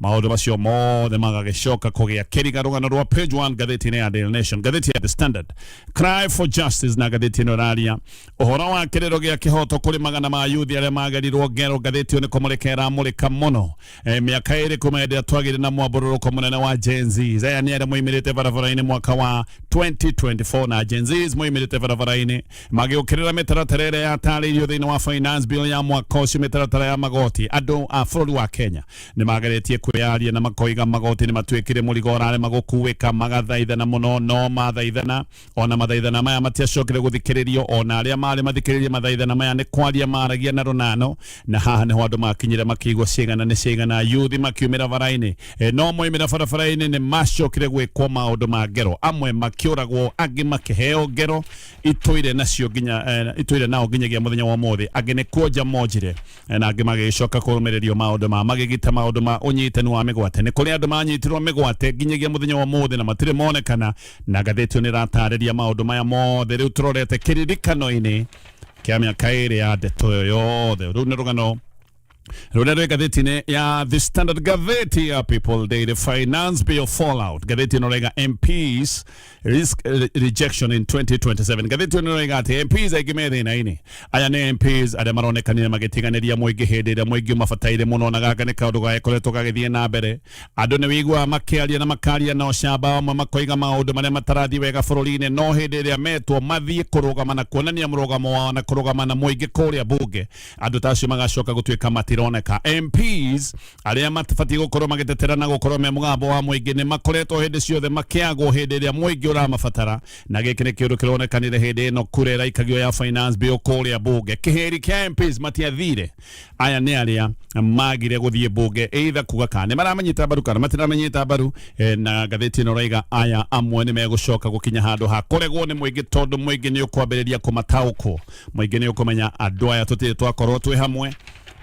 Maũndũ macio mothe magagĩcoka kũgĩa kĩriga rũgano rwa page one ngathĩti-inĩ ya Daily Nation, ngathĩti ya The Standard, Cry for Justice na ngathĩti ĩno ĩraria ũhoro wa kĩrĩro gĩa kĩhoto kũrĩ magana ma yuthi arĩa magerirwo ngero. Ngathĩti ĩyo nĩ kũmũrĩka ĩramũrĩka mũno Eh, mĩaka ĩrĩ kuma hĩndĩ ĩrĩa twagĩire na mwambũrũrũko mũnene wa Gen Z. Aya nĩ arĩa moimĩrĩte barabara-inĩ mwaka wa 2024 na Gen Z moimĩrĩte barabara-inĩ magĩũkĩrĩra mĩtaratara ĩrĩa yatarĩirio thĩinĩ wa finance bill ya mwaka ũcio, mĩtaratara ya magoti. Andũ a bũrũri wa Kenya nĩ mageretie kwĩyaria na makoiga magoti nĩ matuĩkire mũrigo ũrarema gũkuĩka magathaithana mũno no mathaithana ona mathaithana maya matiacokire gũthikĩrĩrio ona arĩa marĩ mathikĩrĩrie mathaithana maya nĩ kwaria maragia na rũnano na haha nĩho andũ makinyire makĩigua cigana nĩ cigana yuthi makiumĩra bara-inĩ e, no moimĩra barabara-inĩ nĩ macokire gwĩkwo maũndũ ma ngero amwe makĩũragwo angĩ makĩheo ngero itũire nacio nginya eh, itũire nao nginyagia mũthenya wa ũmũthĩ angĩ nĩ kuonja monjire na angĩ magĩcoka kũrũmĩrĩrio maũndũ ma magigi ta maũndũ ma ũnyitani wa mĩgwate nĩ kũrĩ andũ manyitirwo mĩgwate nginyagia mũthenya wa ũmũthĩ na matirĩ monekana na ngathĩti ĩyo nĩ ĩratarĩria maũndũ maya mothe rĩu tũrorete kĩririkano-inĩ kĩa mĩaka ĩrĩ ya ndeto ĩyo yothe rĩu nĩ rũgano rũrĩa rwĩ ngathĩti-inĩ ya the standard gatheti ya people daily finance bill fallout ngathĩti ĩno rega mps risk re- rejection in 2027 ngathĩti ĩno nĩroiga atĩ mps aingĩ me thĩna-inĩ aya nĩ mps arĩa maronekanire magĩtiganĩria mũingĩ hĩndĩ ĩrĩa mũingĩ ũmabataire mũno na gaka nĩ kaũndũ gagĩkoretwo gagĩthiĩ na mbere andũ nĩ wĩiguaga makĩaria na makaria na ũcamba amwe makoiga maũndũ marĩa matarathiĩ wega bũrũri-inĩ no hĩndĩ ĩrĩa metwo mathiĩ kũrũgama na kuonania mũrũgamo wao na kũrũgama na mũingĩ kũrĩa bunge andũ ta acio magacoka gũtuĩka matironeka mps arĩa matibatiĩ gũkorwo magĩtetera na gũkorwo me mũgambo wa mũingĩ nĩ makoretwo hĩndĩ ciothe makĩagwo hĩndĩ ĩrĩa mũingĩ ũramabatara na gĩkĩ nĩ kĩũndũ kĩronekanire hĩndĩ ĩno kura ĩraikagio ya finance bill kũrĩa mbunge kĩhĩri kĩa MPs matiathire aya nĩ arĩa magire gũthiĩ mbunge either kuga kana nĩ maramanyita mbaru kana matiramenyita mbaru eh, na ngathĩti ĩno raiga aya amwe nĩ megũcoka gũkinya handũ ha kũregwo nĩ mũingĩ tondũ mũingĩ nĩ ũkwambĩrĩria kũmataũkwo mũingĩ nĩ ũkũmenya andũ aya tũtirĩ twakorwo twĩ hamwe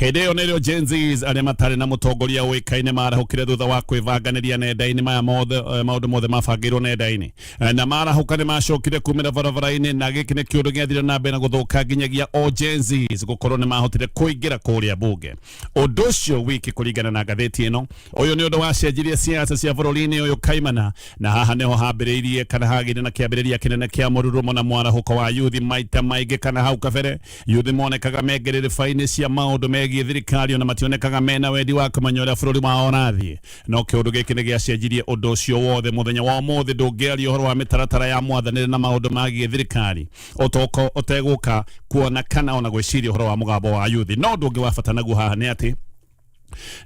hĩndĩ ĩyo nĩrĩo Gen Zs arĩa matarĩ na mũtongoria ũĩkaine marahũkire thutha wa kwĩbanganĩria nenda-inĩ maya mothe eh, maũndũ mothe mabangĩirwo nenda-inĩ Eh, na marahũka nĩ macokire kumĩra barabara-inĩ na gĩkĩ nĩ kĩũndũ gĩathire na mbere na gũthũka nginyagia o Gen Zs gũkorwo nĩ mahotire kũingĩra kũrĩa bunge ũndũ ũcio wiki kũringana na ngathĩti ĩno ũyũ nĩ ũndũ wacenjirie siasa cia bũrũri-inĩ ũyũ kaimana na haha nĩho hambĩrĩirie kana hagĩire na kĩambĩrĩria kĩnene kĩa mũrurumo na mwarahũko wa yuthi maita maingĩ kana hau kabere Yuthi monekaga me ngĩrĩrĩba-inĩ cia maũndũ megiĩ thirikari ona mationekaga mena wendi wa kũmenya ũrĩa bũrũri wao ũrathiĩ. No kĩũndũ gĩkĩ nĩ gĩacenjirie ũndũ ũcio wothe. Mũthenya wa ũmũthĩ ndũngĩaria ũhoro wa mĩtaratara ya mwathanĩre na maũndũ magiĩ thirikari ũtegũka, kuona kana ona gwĩciria ũhoro wa mũgambo wa yuthi. No ũndũ ũngĩ wa bata naguo haha nĩ atĩ,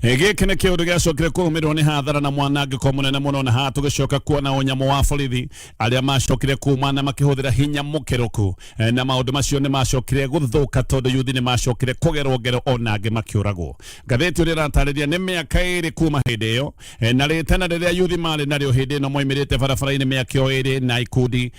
Eh, gĩkĩ nĩ kĩũndũ gĩacokire kũrũmĩrĩrwo nĩ hathara na mwanangĩko mũnene mũno na haha tũgĩcoka kuona ũnyamũ wa borithi arĩa macokire kuma na makĩhũthĩra hinya mũkĩrũku Eh, na maũndũ macio nĩ macokire gũthũka tondũ yuthi nĩ macokire kũgerwo ngero ona angĩ makĩũragwo ngathĩti ũrĩa ĩratarĩria nĩ mĩaka ĩrĩ kuma hĩndĩ ĩyo Eh, na rĩtana rĩrĩa yuthi marĩ narĩo hĩndĩ ĩno moimĩrĩte barabara-inĩ mĩaka ĩyo ĩrĩ na ikundi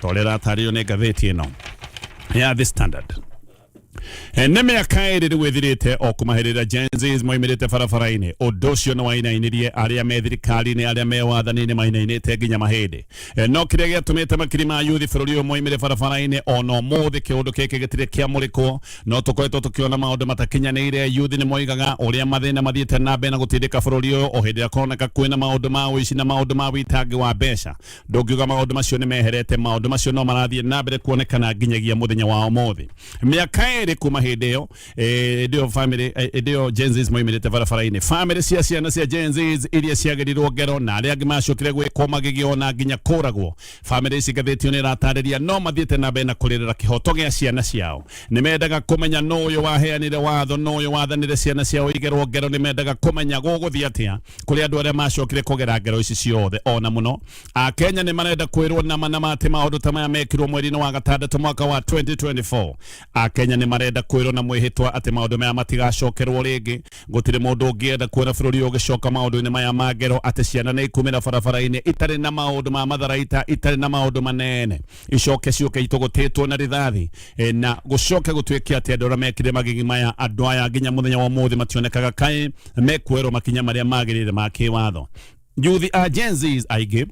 ta ũrĩa ĩratarĩrio nĩ ngathĩti ĩno ya The Standard Eh, nĩ mĩaka ĩrĩ rĩu ĩthirĩte o kũmahĩrĩra Gen Zs moimĩrĩte barabara-inĩ ũndũ ũcio nĩ wainainirie arĩa me thirikari-inĩ arĩa me wathani-inĩ mainainĩte nginya mahĩndĩ Eh, no kĩrĩa gĩatũmĩte makiri ma yuthi bũrũri ũyũ moimĩre barabara-inĩ ona ũmũthĩ kĩũndũ gĩkĩ gĩtirĩ kĩamũrĩkwo no tũkoretwo tũkĩona maũndũ matakinyanĩire yuthi nĩ moigaga ũrĩa mathĩna mathiĩte na mbere na gũtindĩka bũrũri ũyũ o hĩndĩ ĩrĩa kũroneka kwĩna maũndũ ma ũici na maũndũ ma wĩtangi wa mbeca Ndũngiuga maũndũ macio nĩ meherete, maũndũ macio no marathiĩ na mbere kuonekana nginyagia mũthenya wa ũmũthĩ. Mĩaka ĩrĩ kuma hĩndĩ ĩyo, eh, hĩndĩ ĩyo family, eh, hĩndĩ ĩyo Gen Zs moimĩrĩte barabara-inĩ. Family cia ciana cia Gen Zs iria ciagerirwo ngero na arĩa angĩ macokire gwĩkwo magĩgĩo na nginya kũragwo. Family ici ngathĩti ĩyo nĩ ĩratarĩria no mathiĩte na mbere na kũrĩrĩra kĩhoto gĩa ciana ciao. Nĩ mendaga kũmenya nũ ũyũ waheanire watho, nũ ũyũ wathanire ciana ciao igerwo ngero, nĩ mendaga kũmenya gũgũthiĩ atĩa kuri andu aria macokire kugera ngero ici ciothe ona muno akenya ni marenda kwirwo nama nama ati maundu ta maya mekirwo mweri-ini wa gatandatu mwaka wa 2024 akenya ni marenda kwirwo na mwihitwa ati maundu maya matigacokerwo ringi gutiri mundu ungienda kuona bururi uyu ugicoka maundu-ini maya ma ngero ati ciana ni ikumira barabara-ini itari na maundu ma matharaita itari na maundu manene icoke ciũke itũgũtĩtwo na rithathi e, na gũcoke gũtuĩke atĩ andũ arĩa mekire magigi maya andũ aya nginya mũthenya wa ũmũthĩ mationekaga kaĩ mekuerwo makinya marĩa magĩrĩire ma kĩwatho yuthi a Gen Zs aingĩ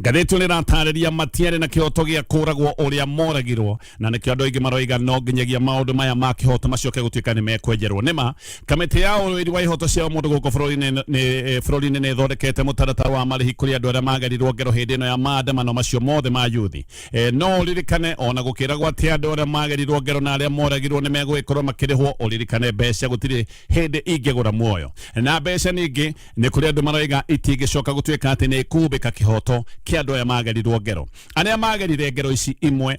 ngathĩti nä ratarä matiarä na kä hoto gä a kå ragwo å rä a moragirwo na nä kä andå aingä maroiga no nginyagia maå ndå maya ma kä hoto macoke gå tuä ka nä mekwenjerwo nä ma Kamĩtĩ ya ũrũĩri wa ihoto cia mũndũ gũkũ bũrũri-inĩ nĩ- nĩ- eh, bũrũri-inĩ nĩ ĩthondekete mũtaratara wa marĩhi kũrĩ andũ arĩa magerirwo ngero hĩndĩ ĩno ya maandamano macio mothe ma yuthi Eh, no ũririkane ona gũkĩragwo atĩ andũ arĩa magerirwo ngero na arĩa moragirwo nĩ megũgĩkorwo makĩrĩhwo ũririkane mbeca gũtirĩ hĩndĩ ingĩgũra muoyo na mbeca ningĩ nĩ kũrĩ andũ maroiga itingĩcoka gũtuĩka atĩ nĩ ikumbĩka kĩhoto kĩa andũ arĩa magerirwo ngero arĩa magerire ngero ici imwe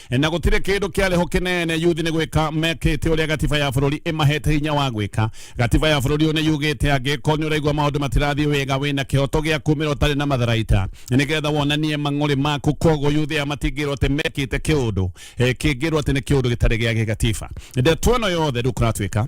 na gutire kindu kiariho kinene yuthi ni gwika mekite uria gatiba ya bururi imahete hinya wa gwika gatiba ya bururi uyu ni yugite angiko ni uraigua maundu matirathii wega wina kihoto gia kumira utari na matharaita nigetha wonanie mang'uri maku koguo yuthi aya matingirwo ati mekite kiundu kingirwo ati ni kiundu gitari gia gigatiba ndeto ino yothe riu kuratwika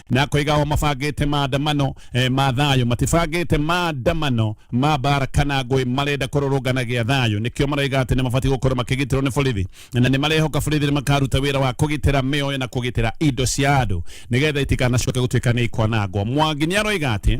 na koiga o mabangĩte maandamano eh, ma thayũ matibangĩte maandamano ma mbara kana ngũĩ marenda kũrũrũnganagia thayũ nĩkĩo maroiga atĩ nĩ mabatiĩ gũkorwo makĩgitĩrwo nĩ borithi na nĩ marehoka borithi nĩ makaruta wĩra wa kũgitĩra mĩoyo na kũgitĩra indo cia andũ nĩgetha itikanacoke gũtuĩka nĩ ikwanangwo mwangi nĩ aroiga atĩ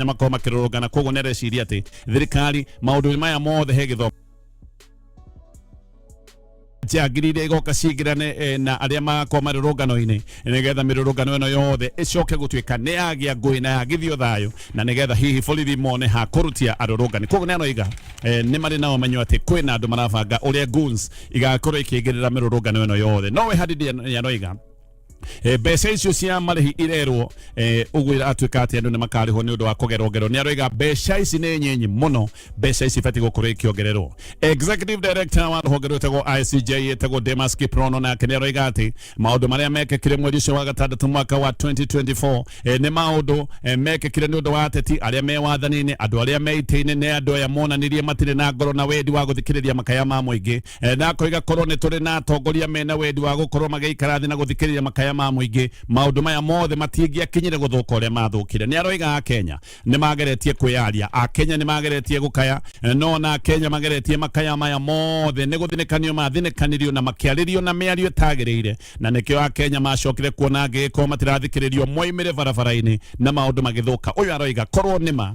nĩ makorwo makĩrũrũngana koguo nĩ areciria atĩ thirikari maũndũ maya mothe he gĩthomo njangiri iria igoka cingirane eh, na arĩa magakorwo marĩ rũngano-inĩ nĩgetha mĩrũrũngano ĩno yothe ĩcoke gũtuĩka nĩ yagĩa ngũĩ na yagithio thayũ na nĩgetha hihi borithi mone ha kũrutia arũrũngani koguo nĩ aroiga eh, nĩ marĩ na ũmenyo atĩ kwĩna andũ marabanga ũrĩa goons igakorwo ikĩingĩrĩra mĩrũrũngano ĩno yothe nowe hadidia nĩ aroiga Eh, mbeca icio cia marĩhi irerwo eh, ũguo iratuĩka atĩ andũ nĩ makarĩhwo nĩ ũndũ wa kũgerwongerwo nĩ aroiga mbeca ici nĩ nyinyi mũno mbeca ici ibatiĩ gũkorwo ikĩongererwo executive director wa rũhonge rwĩtagwo ICJ ĩtagwo Demas Kiprono nake nĩ aroiga atĩ maũndũ marĩa mekĩkire mweri ũcio wa gatandatũ mwaka wa 2024 eh, nĩ maũndũ eh, mekĩkire nĩ ũndũ wa ateti arĩa me wathani-inĩ andũ arĩa me itĩ-inĩ nĩ andũ aya monanirie matirĩ na ngoro na wendi wa gũthikĩrĩria makaya ma mũingĩ Eh, na akoiga korwo nĩ tũrĩ na atongoria mena wendi wa gũkorwo magĩikara thĩ na gũthikĩrĩria makaya ma mũingĩ maũndũ maya mothe matingĩakinyire gũthũka ũrĩa mathũkire nĩ aroiga akenya nĩ mageretie kwĩyaria akenya nĩ mageretie gũkaya eh, no na akenya mageretie makaya maya mothe nĩ gũthinĩkanio mathinĩkanirio na makĩarĩrio na mĩario ĩtagĩrĩire na nĩkĩo akenya macokire kuona angĩgĩkorwo matirathikĩrĩrio moimĩre barabara-inĩ na maũndũ magĩthũka ũyũ aroiga korwo nĩma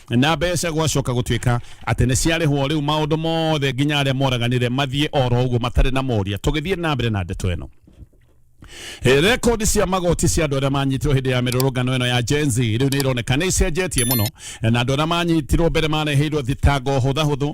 na mbeca gwacoka gũtuĩka atĩ nĩ ciarĩhwo rĩu maũndũ mothe nginya arĩa moraganire mathiĩ oro ũguo matarĩ na moria tũgĩthiĩ na mbere na ndeto ĩno Eh, rekondi cia magoti cia andå arä a manyitirwo hä ndä ya mä rå rå ngano ä no ya jenzi rä u nä ironeka nä icenjetie må no na andå arä a manyitirwo mbere mareheirwo thitango hå thahå thå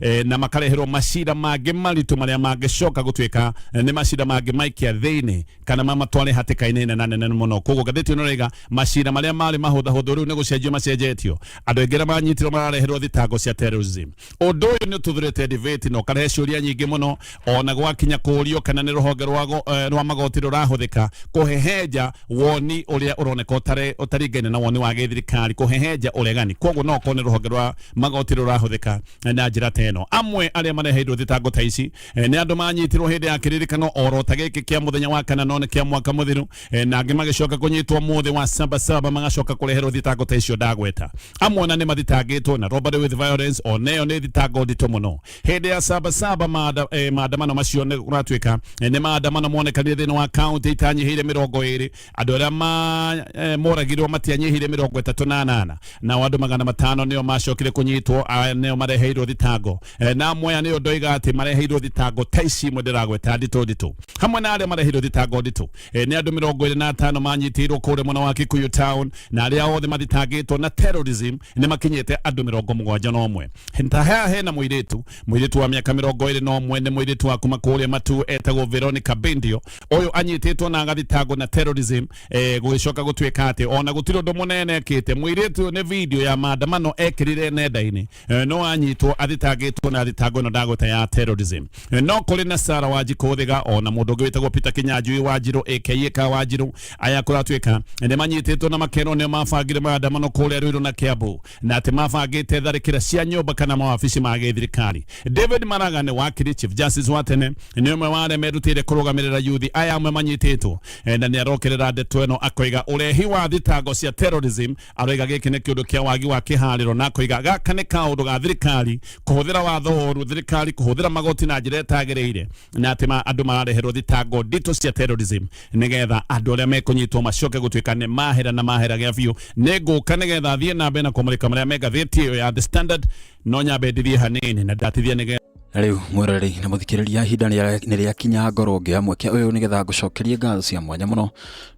eh, na makareherwo macira mangĩ maritũ marĩa mangĩcoka gũtuĩka eh, nĩ macira mangĩ maikia thĩinĩ kana mamatware hatĩka-inĩ nene nene mũno koguo ngathĩti ĩno rĩga macira marĩa marĩ mahũthahũthũ rĩu nĩ gũcenjio macenjetio andũ aingĩ arĩa manyitirwo marareherwo thitango cia terrorism ũndũ ũyũ nĩ ũtuthũrĩte debate na ũkarehe ciũria nyingĩ mũno ona gwakinya kũũrio kana nĩ rũhonge rwa go- eh, rwa magoti rũrahũthĩka kũhehenja woni ũrĩa ũroneka ũtarĩ- ũtaringaine na woni wa gĩthirikari kũhehenja ũregani koguo no okorwo nĩ rũhonge rwa magoti rũrahũthĩka eh, na njĩra ta ĩno amwe arĩa mareheirwo thitango ta ici eh, nĩ andũ manyitirwo hĩndĩ ya kĩririkano oro ta gĩkĩ kĩa mũthenya wa kana no nĩ kĩa mwaka mũthiru eh, na angĩ magĩcoka kũnyitwo mũthĩ wa sabasaba magacoka kũreherwo thitango ta icio ndagweta amwe ona nĩ mathitangĩtwo na robbery with violence oneyo nĩ thitango nditũ mũno hĩndĩ ya sabasaba maanda- eh, maandamano macio nĩ kũratuĩka eh, nĩ maandamano monekanire thĩinĩ wa kaunti itanyihĩire mĩrongo ĩrĩ andũ arĩa ma- eh, moragirwo matianyihĩire mĩrongo ĩtatũ na anana nao andũ magana matano nĩo macokire kũnyitwo ah, nĩo mareheirwo thitango Eh, na amwe aya nĩo ndoiga atĩ mareheirwo thitango ta ici imwe ndĩragweta nditũ nditũ hamwe na arĩa mareheirwo thitango nditũ e, nĩ andũ mĩrongo ĩrĩ na atano manyitĩirwo kũrĩa mwena wa Kikuyu town na arĩa othe mathitangĩtwo na terrorism nĩ makinyĩte andũ mĩrongo mũgwanja na ũmwe ta hea hena mũirĩtu mũirĩtu wa mĩaka mĩrongo ĩrĩ na ũmwe nĩ mũirĩtu wa kuma kũrĩa matu etagwo Veronica Bendio ũyũ anyitĩtwo na agathitangwo na terrorism e, gũgĩcoka gũtuĩka atĩ ona gũtirĩ ũndũ mũnene ekĩte mũirĩtu ũyũ nĩ video ya maandamano ekĩrire nenda-inĩ eh, no anyitwo athitangĩtwo na thitango ĩno ndagweta ya terrorism Eh, no kũrĩ na Sarah Wanjikũ Thiga ona mũndũ ũngĩ wĩtagwo Peter Kinyanjui Wanjirũ aka ka Wanjirũ aya kũratuĩka nĩ manyitĩtwo na makerwo nĩ mabangire maandamano kũrĩa Ruiru na Kiambu na atĩ mabangĩte tharĩkĩra cia nyũmba kana mawabici ma gĩthirikari David Maraga nĩ wakiri Chief Justice wa tene nĩ ũmwe wa arĩa merutĩire kũrũgamĩrĩra yuthi aya amwe manyitĩtwo Eh, na nĩ arokerera ndeto ĩno akoiga ũrehi wa thitango cia terrorism aroiga gĩkĩ nĩ kĩũndũ kĩa wagi wa kĩharĩro na akoiga gaka nĩ kaũndũ ga thirikari kũhũthĩra watho ũru thirikari kũhũthĩra magoti na njĩra ĩtagĩrĩire na atĩ ma- andũ marareherwo thitango nditũ cia terrorism nĩgetha andũ arĩa mekũnyitwo macoke gũtuĩka nĩ mahera na mahera gĩa biũ nĩ ngũka nĩgetha thiĩ na mbere na kũmũrĩka marĩa me ngathĩti ĩyo ya the standard no nyambe ndithiĩ hanini na ndatithia nĩgetha na rĩu mwĩroreri na mũthikĩrĩria ihinda nĩ rĩakinya ngorwo ngĩoya mweke ũyũ nĩgetha ngũcokerie ngatho cia mwanya mũno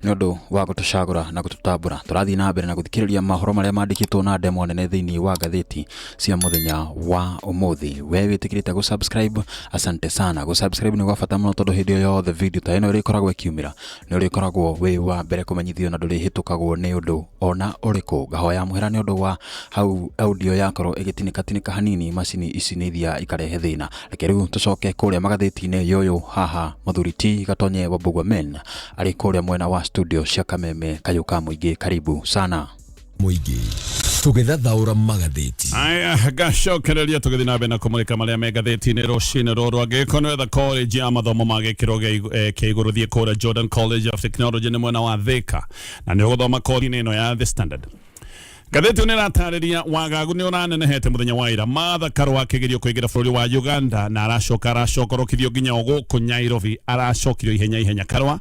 nĩ ũndũ wa gũtũcagũra na gũtũtambũra tũrathiĩ na mbere na gũthikĩrĩria mohoro marĩa mandĩkĩtwo na ndemwa nene thĩinĩ wa ngathĩti cia mũthenya wa ũmũthĩ we wĩtĩkĩrĩte gũ subscribe asante sana gũ subscribe nĩ gwa bata mũno tondũ hĩndĩ o yothe video ta ĩno ĩrĩkoragwo ĩkiumĩra nĩ ũrĩkoragwo wĩ wa mbere kũmenyithio na ndũrĩhĩtũkagwo nĩ ũndũ ona ũrĩkũ. Ngahoya mũhera nĩ ũndũ wa hau audio yakorwo ĩgĩtinĩka tinĩka hanini macini ici nĩ iria ikarehe thĩna. Reke rĩu tũcoke kũrĩa magathĩti-inĩ yoyũ haha mũthuri ti Gatonye Wambugua Men arĩ kũrĩa mwena wa studio cia Kameme kayũ ka mũingĩ karibu sana. mũingĩ tũgĩthathaũra magathĩti aya gacokereria tũgĩthiĩ na mbere na kũmũrĩka marĩa me ngathĩti-inĩ rũcinĩ rũrũ angĩkorwo nĩ wetha college ya mathomo ma gĩkĩro gĩa igũ- eh, kĩa igũrũ thiĩ kũrĩa jordan college of technology nĩ mwena wa thĩka na nĩ ũgũthoma kothi-inĩ ĩno ya the standard ngathĩti nĩ ĩratarĩria wagagu nĩ ũranenehete mũthenya wa ira matha karwa akĩgerio kũingĩra bũrũri wa uganda na aracoka aracokorokithio nginya o gũkũ nyairobi aracokirio ihenya ihenya karwa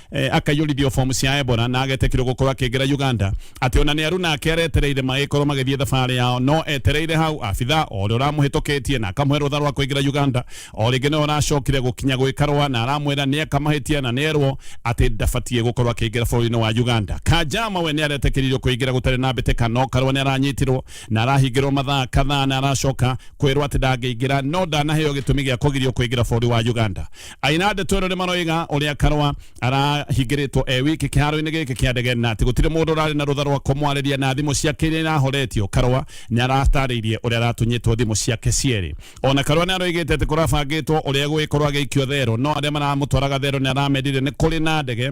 eh, akaiyũrithio bomu cia ebora na agetekirwo gũkorwo akĩingĩra uganda atĩ ona nĩ aru nake aretereire magĩkorwo magĩthiĩ thabarĩ yao no etereire hau abitha o ũrĩa ũramũhĩtũkĩtie na akamũhe rũtha rwa kũingĩra uganda o rĩngĩ nĩwe ũracokire gũkinya gwĩkarwa na aramwĩra nĩ akamahĩtia na nĩ erwo atĩ ndabatiĩ gũkorwo akĩingĩra bũrũri-inĩ wa uganda kanjama we nĩ aretekĩririo kũingĩra gũtarĩ na mbĩtĩka no karwa nĩ aranyitirwo na arahingĩrwo mathaa kadhaa na aracoka kwĩrwo atĩ ndangĩingĩra no ndanaheo gĩtũmi gĩa kũgirio kũingĩra bũrũri wa uganda aina ndeto ĩno nĩ maroiga ũrĩa karwa arahingĩrĩtwo e wiki kĩharo-inĩ gĩkĩ kĩa ndege na atĩ gũtirĩ mũndũ ũrarĩ na rũtha rwa kũmwarĩria na thimũ ciake iria irahoretio karwa nĩ aratarĩirie ũrĩa aratunyĩtwo thimũ ciake cierĩ ona karwa nĩ aroigĩte atĩ kũrabangĩtwo ũrĩa gũgĩkorwo agĩikio thero no arĩa maramũtwaraga thero nĩ aramendire nĩ kũrĩ na ndege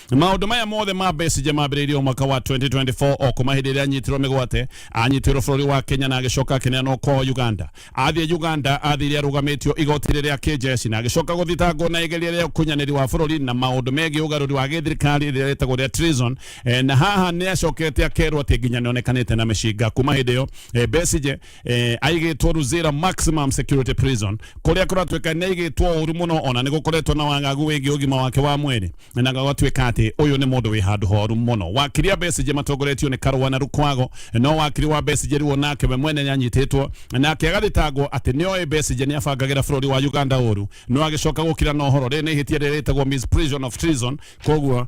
maundu maya mothe ma Besigye mambĩrĩirie o mwaka wa 2024 o kuma hĩndĩ ĩrĩa anyitirwo mĩgwate anyitwĩrwo bũrũri wa Kenya na agĩcoka akĩneanwo kwa Uganda athiĩ Uganda athire arũgamĩtio igoti-inĩ rĩa kĩnjeci na agĩcoka gũthitangwo na igeria rĩa ũkunyanĩri wa bũrũri na maũndũ megiĩ ũgarũri wa gĩthirikari rĩrĩa rĩtagwo rĩa treason Eh, na haha nĩ acokete akerwo atĩ nginya nĩonekanĩte na mĩcinga kuma hĩndĩ ĩyo eh, Besigye eh, aigĩtwo Luzira Maximum Security Prison kũrĩa kũratuĩka nĩ aigĩtwo ũru mũno ona nĩ gũkoretwo na wagagu wĩgiĩ ũgima wake wa mwĩrĩ na gũgatuĩka atĩ ũyũ nĩ mũndũ wĩ handũ horu mũno wakiri a Besigye matongoretio nĩ Karũa na Rukwago no wakiri wa Besigye rĩu onake we mwene nĩanyitĩtwo nake agathitangwo atĩ nĩoĩ Besigye nĩabangagĩra bũrũri wa Uganda ũru no agĩcoka gũkira na ũhoro rĩrĩ nĩ ihĩtia rĩrĩa rĩtagwo misprision of treason koguo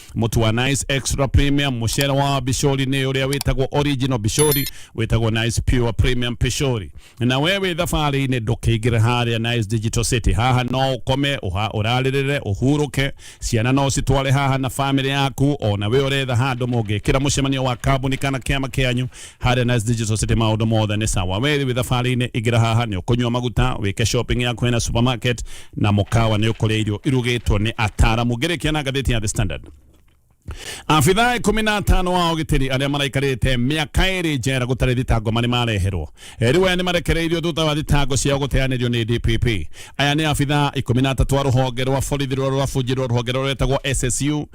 mũtu wa nice extra premium mũcere wa bishori nĩ ũrĩa wĩtagwo original bishori wĩtagwo nice pure premium bishori na we wĩ thabarĩ-inĩ ndũkĩingĩre harĩa nice digital city haha no ũkome ũha- ũrarĩrĩre ũhurũke ciana no citware haha na famĩlĩ yaku ona we ũretha handũ mũngĩkĩra mũcemanio wa kambuni kana kĩama kĩanyu Harĩa Nice Digital City maũndũ mothe nĩ sawa. Wee wĩ thabarĩ-inĩ ingĩra haha nĩ ũkũnyua maguta, wĩke shopping yaku hena supermarket na mũkawa nĩ ũkũrĩa irio irugĩtwo nĩ ataaramu. Ngĩrĩkia na ngathĩti ya The Standard. Abithaa ikũmi na atano wa ũgitĩri arĩa maraikarĩte mĩaka ĩrĩ njera gũtarĩ thitango marĩ mareherwo rĩu aya nĩ marekereirio thutha wa thitango ciao gũteanĩrio nĩ DPP. Aya nĩ abithaa ikũmi na atatũ a rũhonge rwa borithi rũrĩa rũrabunjĩrwo rũhonge rũrĩa rwĩtagwo SSU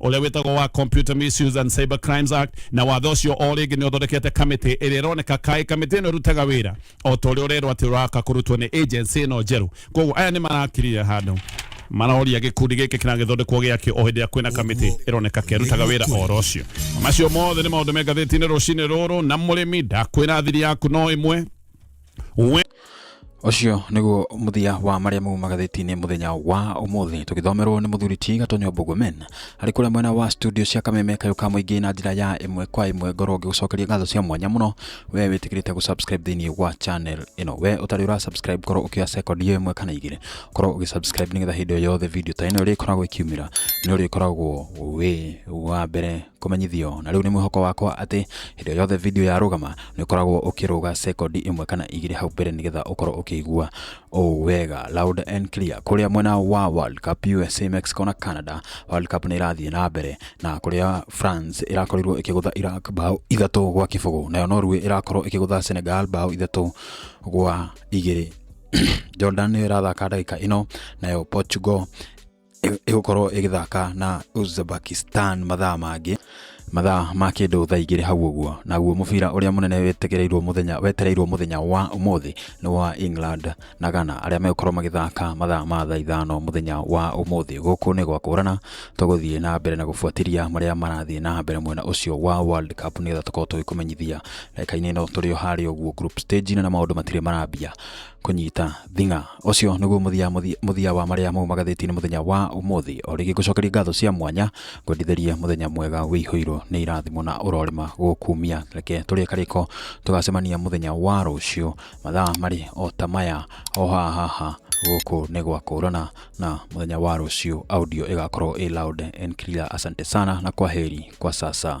ũrĩa wĩtagwo wa Computer Misuse and Cyber Crimes Act na watho ũcio o rĩngĩ nĩ ũthondekete kamĩtĩ ĩrĩa ĩroneka kaĩ kamĩtĩ ĩno ĩrutaga wĩra o ta ũrĩa ũrerwo atĩ ũraka kũrutwo nĩ agency ĩno njerũ koguo aya nĩ marakirire handũ marahoria gĩkundi gĩkĩ kĩragĩthondekwo gĩakĩ o hĩndĩ ĩrĩa kwĩna kamĩtĩ ĩroneka kĩrutaga wĩra oro ũcio macio mothe nĩ maũndũ me ngathĩti-inĩ rũcinĩ rũrũ na mũrĩmi ndakwĩra thiri yaku no ĩmwe Ũcio nĩguo mũthia wa marĩa mau magathĩti-inĩ mũthenya wa ũmũthĩ tũgĩthomerwo nĩ mũthuri ti Gatonyo Bogomen arĩ kũrĩa mwena wa studio cia Kameme kayũ ka mũingĩ na njĩra ya ĩmwe kwa ĩmwe ngorwo ngĩgũcokeria ngatho cia mwanya mũno we wĩtĩkĩrĩte gũ subscribe thĩinĩ wa channel ĩno we ũtarĩ ũra subscribe korwo ũkĩoya second iyo ĩmwe kana igĩrĩ korwo ũgĩ subscribe nĩgetha hĩndĩ o yothe video ta ĩno ĩrĩkoragwo ĩkiumĩra nĩ ũrĩkoragwo wĩ wa mbere kũmenyithio na rĩu nĩ mwĩhoko wakwa atĩ hĩndĩ yothe video ya rũgama nĩ ũkoragwo ũkĩrũga sekondi ĩmwe kana igĩrĩ hau mbere nĩgetha ũkorwo ũkĩigua ũũ wega loud and clear kũrĩa mwena wa World Cup USA Mexico na Canada World Cup nĩ irathiĩ na mbere na kũrĩa France ĩrakorirwo ĩkĩgũtha Iraq bao ithatũ gwa kĩbũgũ nayo Norway ĩrakorwo ĩkĩgũtha Senegal bao ithatũ gwa igĩrĩ Jordan nĩyo ĩrathaka ndagĩka ĩno nayo Portugal ĩ- ĩgũkorwo ĩgĩthaka na Uzbekistan mathaa mangĩ mathaa ma kĩndũ thaa igĩrĩ hau ũguo naguo mũbira ũrĩa mũnene wetegereirwo mũthenya wetereirwo mũthenya wa ũmũthĩ nĩ wa England na Ghana arĩa megũkorwo magĩthaka mathaa ma thaa ithano mũthenya wa ũmũthĩ gũkũ nĩ gwa kũrana tũgũthiĩ na mbere na gũbuatĩria marĩa marathiĩ na mbere mwena ũcio wa World Cup nĩgetha tũkorwo tũgĩkũmenyithia ndagĩka-inĩ ĩno tũrĩ o harĩa ũguo group stage na maũndũ matirĩ marambia kũnyita thing'a ũcio nĩguo mũthia mũthia- mũthia wa marĩa mau magathĩti-inĩ mũthenya wa ũmũthĩ o rĩngĩ ngũcokeria ngatho cia mwanya ngwendithĩrie mũthenya mwega wĩihũirwo nĩ irathimo na ũrorĩma gũkumia reke tũrĩe karĩko tũgacemania mũthenya wa rũciũ mathaa marĩ o ta maya o haha haha gũkũ nĩ gwa kũrana na mũthenya wa rũciũ audio ĩgakorwo ĩ loud and clear asante sana na kwa heri kwa sasa